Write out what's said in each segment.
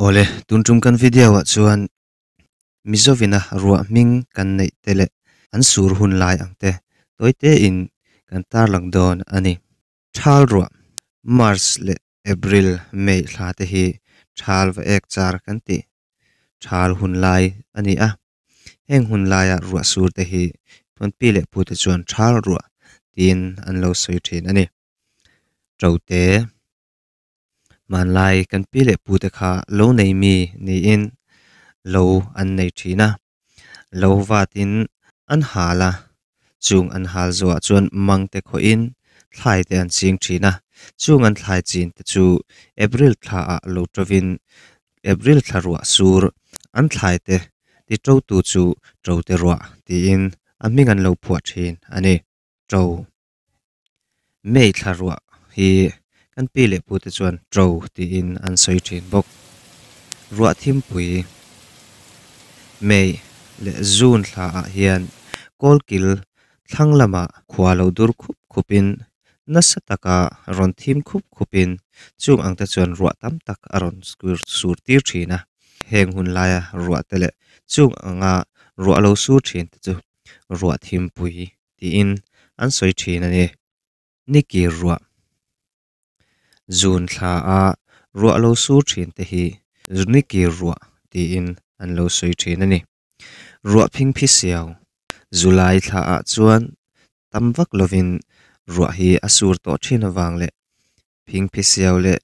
Awle, tun tum kan video ah chuan Mizo vina ruah hming kan neih te leh an sur hun lai ang te tawi te in kan tarlak dawn a ni. Thal ruah, March leh April, May, thla te hi thal va ek char kan ti thal hun lai a ni a, heng hun lai ah ruah sur te hi Phunpi leh Pu te chuan thal ruah tiin an lo sawi thin a ni. Ṭo te. Hmanlai kan pi leh pu te kha lo nei mi niin lo an nei thin a, lo vatin an hal a, chung an hal zawhah chuan mangte khawhin thlai te an ching thin a, chung an thlai chin te chu April thla ah lo tovin April thla ruah sur an thlai te ti to tu chu Tote ruah tiin a hming an lo phuah thin a ni. To. May thlaruah hi kan pi leh pute chuan to tiin an sawi thin bawk. Ruah thimpui May leh June thla ah hian Kawlkil thlang lama khua lo dur khup khup in nasa taka rawn thim khup khup in chung ang te chuan ruah tam tak a rawn sur tir thin a. Heng hun laia ruah te leh chung anga ruah lo sur thin te chu ruah thimpui tiin an sawi thin a ni. Nikki ruah zun thla a ruah lo sur thin te hi Znikki ruah tiin an lo sawi thin a ni. Ruah phingphi siau, Zulai thla ah chuan tam vak lovin ruah hi a sur tawh thin avang leh phingphi siau leh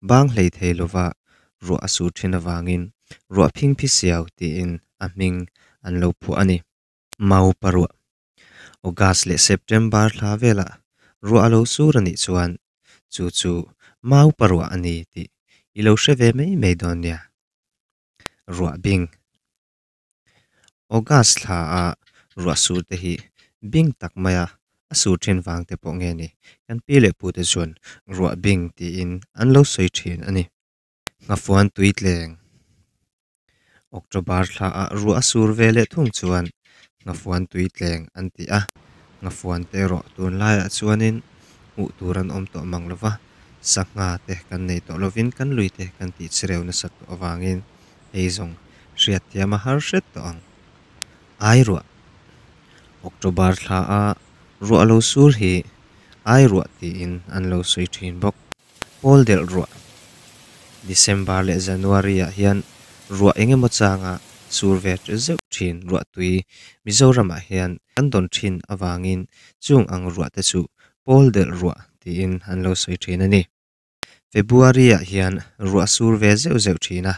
bang hlei thei lova ruah a sur thin avangin Ruah phingphi siau tiin a hming an lo phuah a ni. Mau paruah, August leh September thla velah ruah a lo sur a nih chuan chu chu mau paruah a ni tih i lo hre ve mai mai dawn nia. Ruah bing, August thla a ruah sur te hi bing tak maia a sur thin vang te pawh nge ni? Kan pi leh pu te chuan ruah bing tiin an lo sawi thin a ni. Hnafuan tui tleng October thla ah ruah a sur ve leh thung chuan hnafuan tui tleng an ti a, hnafuan te erawh tun lai ah chuanin hmuh tur an awm tawh mang lova, sangha te kan nei tawh lovin kan lui te kan tih chhireu nasat tawh avangin hei zawng hriatthiam a har hret tawh ang. Ai ruah October thla a ruah lo sur hi ai ruah tiin an lo sawi thin bawk. Pawl delh ruah, December leh January ah hian ruah eng emaw changa sur ve teh zeuh thin ruah tui Mizoramah hian kan dawn thin avangin chung ang ruah te chu Pawl delh ruah tiin an lo sawi thin a ni. February ah hian ruah sur ve zeuh zeuh thina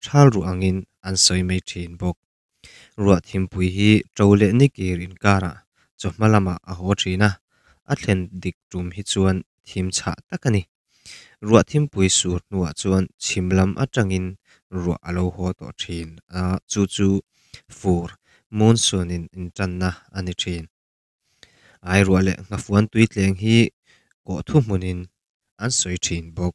thal ruah angin an sawi mai thin bawk. Ruah thimpui hi ṭo leh ni kir inkarah chaw hma lamah a haw ṭhin a, a thlen dik ṭum hi chuan thim chhah tak a ni. Ruah thimpui sur hnuah chuan chhim lam aṭangin ruah a lo haw tawh ṭhin a, chu chu fur, monsoon, in inṭanna a ni ṭhin. Airuah leh Nghafuan tui tleng hi kawh thu hmunin an sawi ṭhin bawk.